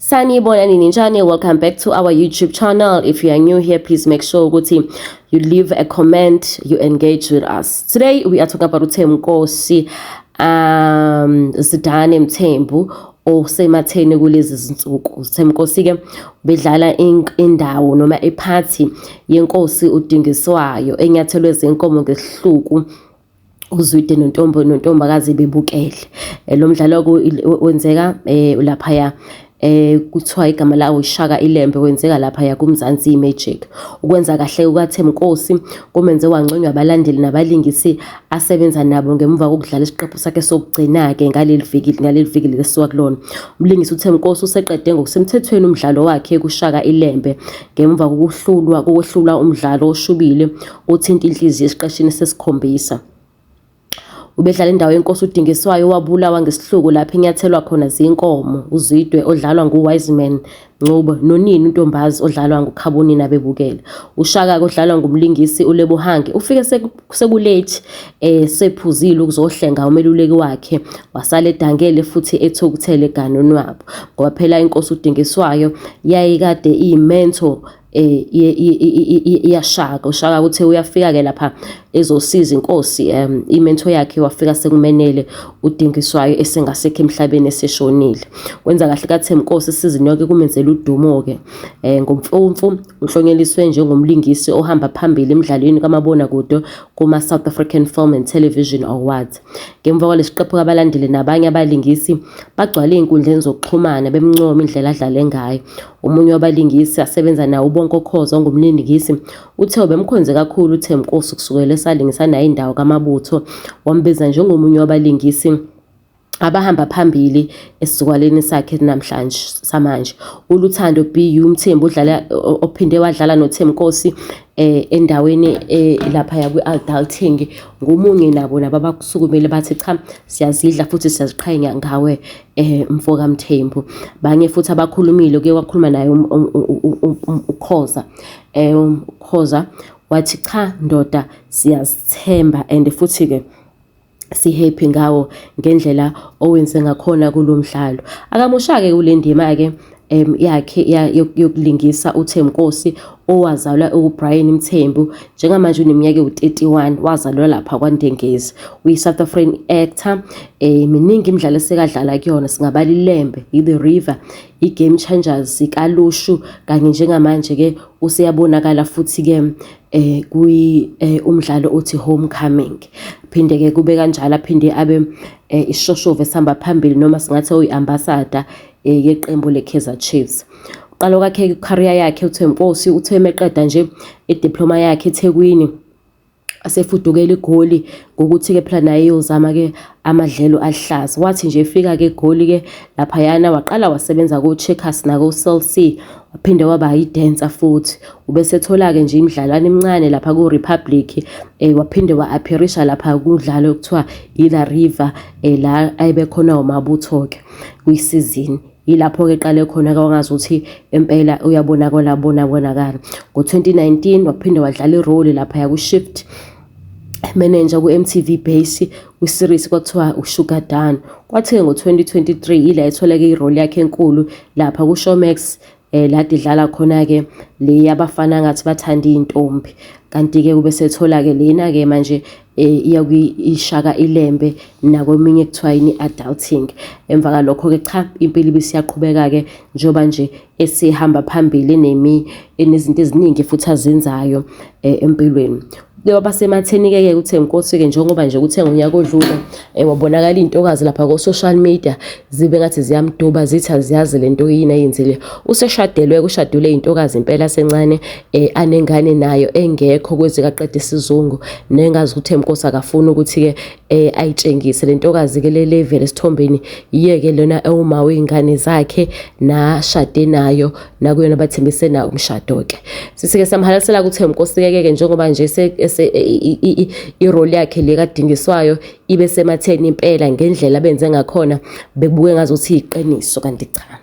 sanibona nini njani welcome back to our youtube channel if you are new here please make sure ukuthi you leave a comment you engage with us today we are talking about uthemkosi um zidane mthembu osematheni kulezi zinsuku uthemkosi ke bedlala indawo noma iphathi yenkosi udingiswayo enyathelwe zenkomo ngesihluku uZwide nontombo nontombakazi bebukele eh, lo mdlalo wenzeka eh, laphaya eh kuthiwa igama lawo Shaka Ilembe wenzeka lapha ya kuMzansi Magic ukwenza kahle kukaThemkosi kumenze wangconywa abalandeli nabalingisi asebenza nabo ngemuva kokudlala isiqephu sakhe sokugcina ke ngaleli viki ngaleli viki lesuka kulona umlingisi uThemkosi useqede ngokusemthethweni umdlalo wakhe kuShaka Ilembe Ngemva kokuhlulwa kokwehlula umdlalo oshubile othinta inhliziyo esiqeshini sesikhombisa, ubedlala indawo yenkosi udingiswayo owabulawa ngesihluku lapho enyathelwa khona zinkomo uzidwe odlalwa nguwiseman ncubo nonini untombazi odlalwa ngukhabonina bebukele ushaka-ke odlalwa ngumlingisi ulebohange ufike sekulethi eh sephuzile ukuzohlenga umeluleki wakhe wasala edangele futhi ethukuthele ganoni wabo ngoba phela inkosi udingiswayo yayikade iyimentor eh iyashaka ushaka ukuthi uyafika ke lapha ezosiza inkosi um imento yakhe wafika sekumenele udingiswayo esengasekho emhlabeni eseshonile kwenza kahle kaThemkosi isizini yonke kumenzela udumo ke eh ngomfumfu Uhlonyeliswe njengomlingisi ohamba phambili emdlalweni kamabonakude kuma-South African Film and Television Awards. Ngemva kwalesiqephu abalandeli nabanye abalingisi bagcwale ey'nkundleni zokuxhumana bemncoma indlela adlale ngayo. Omunye wabalingisi asebenza nawo uBonko Khoza ongumlingisi uthe ubemkhonze kakhulu uThembinkosi kusukela esalingisa naye indawo kaMabutho, wambiza njengomunye wabalingisi abahamba phambili esizukwaleni sakhe namhlanje samanje uLuthando BU Mthembu udlala ophinde wadlala noThemkosi eh endaweni eh, lapha ya kwi-adulting ngomunye nabo laba bakusukumele bathi cha siyazidla futhi siyaziqhenya ngawe eh mfoka Mthembu banye futhi abakhulumile ke wakhuluma naye um, um, um, ukhoza eh ukhoza wathi cha ndoda siyazithemba and futhi ke sihappy ngawo ngendlela owenze ngakhona kulo mdlalo akamoshake kule ndima-ke um yakhe yokulingisa uthemkosi owazalwa ubrian mthembu njengamanje uneminyaka ewu-31 wazalwa lapha kwandengezi uyi-south african actor um miningi imidlalo esekadlala kuyona singabala ilembe i-the river i-game changers ikalushu kanye njengamanje ke useyabonakala futhi ke eh kwi eh, umdlalo othi homecoming phinde ke kube kanjalo aphinde abe eh, ishoshove sihamba phambili noma singathi uyiambassador eh, yeqembu leKaizer Chiefs uqalo kwakhe career yakhe uThemposi uthe meqeda nje idiploma yakhe eThekwini asefudukela igoli ngokuthi-ke phela naye eyozama-ke amadlelo aluhlaza wathi nje efika-ke egoli-ke laphayana waqala wasebenza ko-checkers nako-cell c waphinde waba yidensa futhi ubesethola-ke nje imidlalwane emincane lapha ku-republic um eh, waphinde wa-aphirisha lapha kudlalo okuthiwa ila river um eh, la ayebekhona wamabutho-ke kwisizini Yilapho-ke eqale khona ke wangazi ukuthi impela uyabonakala bona bonakala. Ngo-2019 waphinde wadlala irole lapha yaku-Shift manager ku-MTV Base kwi-series kwathiwa uSugar Dan. Kwathi-ke ngo-2023 yila etholeke irole yakhe enkulu lapha ku-Showmax eh la didlala khona ke le yabafana ngathi bathanda izintombi kanti ke kube sethola ke lena ke manje eh, iya kuyishaka ilembe nakweminye kuthiwa yini adulting emva kalokho ke cha impilo ibisiyaqhubeka ke njoba nje esihamba phambili nemi enezinto eziningi futhi azenzayo eh, empilweni Njengoba sematheni-ke ke kuthe nkosi-ke njengoba nje kuthe ngonyaka odlule Eh, wabonakala intokazi lapha ko social media zibe ngathi ziyamduba zithi aziyazi lento yini ayenzile useshadelwe kushadule intokazi impela sencane eh, anengane nayo engekho kwezi kaqede isizungu nengazi ukuthi emkosi akafuni ukuthi ke eh, ayitshengise lentokazi ke le level esithombeni yeke lona ewuma weingane zakhe nashade nayo nakuyona bathembise nawo umshado-ke sisike samhalalisela ukuthi nkosi kekeke njengoba nje iroli yakhe le kadingiswayo ibe sematheni impela ngendlela benze ngakhona bebuke ngazothi yiqiniso kanti cha